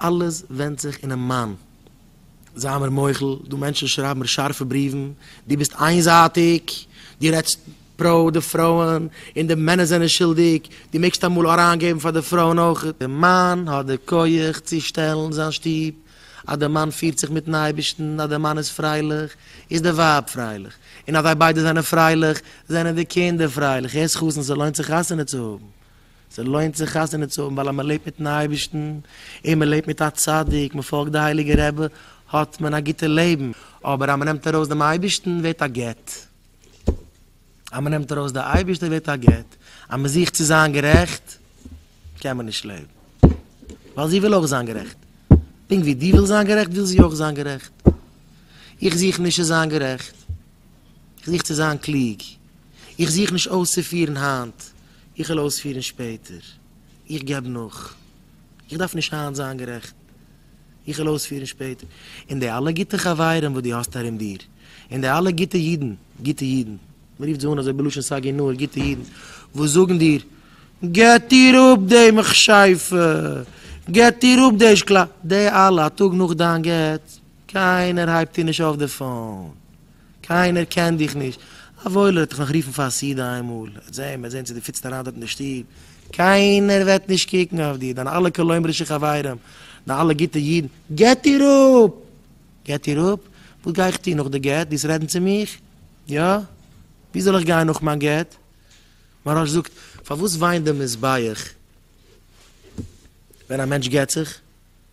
אלעס ווענדט זיך אינעם מאן. זיי מיר מוחל, דו מענטשן שרייבן מיר שארפע בריוון, דו ביסט איינזייטיג, דו רעדסט פרא די פרויען, און די מענער זענען שולדיג, דו מעגסט אמאל אריינגעבן פאר די פרויען אויך. די מאן האט די כח צו שטעלן זיין שטוב, אז די מאן פירט זיך מיטן אייבערשטן, אז די מאן איז פרייליך, איז די ווייב פרייליך, און אז זיי ביידע זענען פרייליך, זענען די קינדער פרייליך, הערסט חתן ס'לוינט זיך חתונה צו האבן. ס'לוינט זיך חתונה צו האבן ווייל אז מ'לעבט מיט'ן אייבערשטן און מ'לעבט מיט א צדיק, מ'פאלגט די הייליגע רבי, האט מען א גוטע לעבן. אבער אז מ'נעמט ארויס דעם אייבערשטן ווערט א גט. אז מ'נעמט ארויס די אייבערשטער ווערט א גט. אז מ'זוכט צו זיין גערעכט קען מען נישט לעבן. ווייל זי וויל אויך זיין גערעכט. פונקט ווי דו ווילסט זיין גערעכט וויל זי אויך זיין גערעכט. איך זוך נישט צו זיין גערעכט. איך זוך צו זיין קלוג. איך זוך נישט אויסצופירן היינט. איך וועל אויספירן שפעטער. איך געב נאך. איך דארף נישט היינט זיין גערעכט. איך וועל אויספירן שפעטער. און די אלע גוטע חברים וואס דו האסט ארום דיר, און די אלע גוטע אידן, גוטע אידן, מען רופט זיי אן אזוי בלשון סג י נאר גוטע אידן, וואס זאגן דיר, געט איר אפ די מכשפה, געט איר אפ די שקלא, די אלע, א טאג נאך דיין גט, קיינער הייבט איר נישט אויף די פאון. קיינער קען דיך נישט. א וואוילער וועט דיך נאך רופן פאר א סעודה איינמאל. וועט זען, וועט זען צו דו פיטסט אריין דארט אין די שטוב. קיינער וועט נישט קוקן אויף דיר. דיינע אלע כלומר'ישע חברים, דיינע אלע גוטע אידן, געט איר אפ! געט איר אפ? וואס גיי איך טון נאך די גט? דו עסט רעדן צו מיך? יא? ווי זאל איך גיין נאך מיין גט? מהרש זאגט, פארוואס וויינט די מזבח ווען א מענטש גט זיך?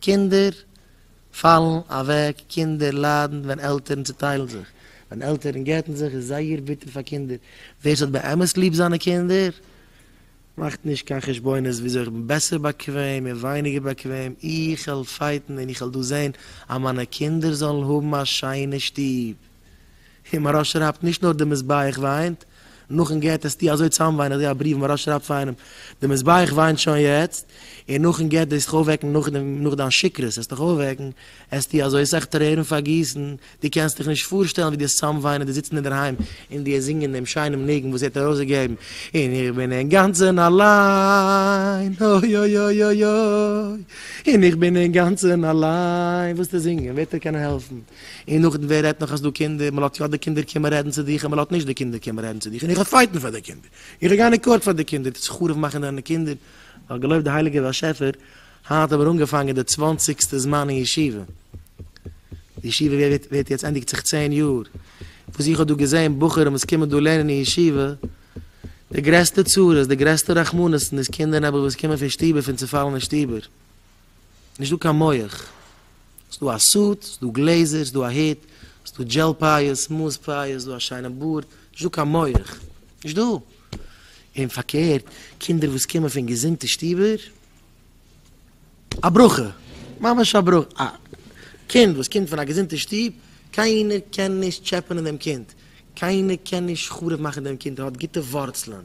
קינדער פאלן אוועק, קינדער ליידן ווען עלטערן צעטיילן זיך, ווען עלטערן גט'ן זיך איז זייער ביטער פאר קינדער, ווער ס'האט באמת ליב זיינע קינדער מאכט נישט קיין חשבונות וויאזוי איך בין בעסער באקוועם און ווייניגער באקוועם, איך העל פייטן און איך העל דא זען אז מיינע קינדער זאלן האבן א שיינע שטוב. און מהרא שרייבט נישט נאר די מזבח וויינט, נאכן גט אז טו אזוי צאם וויין, איך זעה א בריוו מהרא שרייבט פאר איינעם, די מזבח וויינט שוין יעצט, און נאכן גט דאס זיך אויפוועקן נאך דיין שכרות עס דיך אויפוועקן, עס טו אזוי אסאך טרערן פארגיסן, דו קענסט דיך נישט פארשטעלן ווי דו צאם וויינען דו זיצן אינדערהיים און דו זינגען דעם שיינעם ניגון וואס ער האט ארויס געגעבן, און איך בין אינגאנצען אליין, אוי אוי אוי אוי אוי, און איך בין אינגאנצען אליין, ווילסטו זינגען וועט ער קענען העלפן? און נאכדעם ווער רעדט נאך אז דו קינדער, מען לאט יא די קינדער קומען רעדן צו דיך און מען לאט נישט די קינדער קומען רעדן צו דיך און איך וועל פייטן פאר די קינדער, איך וועל גיין אין קאורט פאר די קינדער, טוט זיך חרוב מאכן דיינע קינדער, נאר געלויבט די הייליגער באשעפער, היינט האבן מיר אנגעפאנגען די צוואנציגסטע זמן אין ישיבה, די ישיבה ווערט יעצט ענדיגט זיך צען יאר, וואס איך האב דא געזען בחורים וואס קומען דא לערנען אין ישיבה, די גרעסטע צרות, די גרעסטע רחמנות'ן איז קינדער נעבעך וואס קומען פון שטובער פון צופאלענע שטובער. נישט דא קיין מוח, ס'איז דא א סוט, ס'איז דא גלעזער, ס'איז דא א הוט, ס'איז דא דזשעל פייער, סמאאס פייער, ס'איז דא א שיינע בארד, נישט דא קיין מוח, נישט דא. און פארקערט, קינדער וואס קומען פון געזונטע שטובער, א ברכה! ממש א ברכה! א קינד וואס קומט פון א געזונטע שטוב, קיינער קען נישט טשעפענען דעם קינד, קיינער קען נישט חרוב מאכן דעם קינד, ער האט גוטע ווארצלען,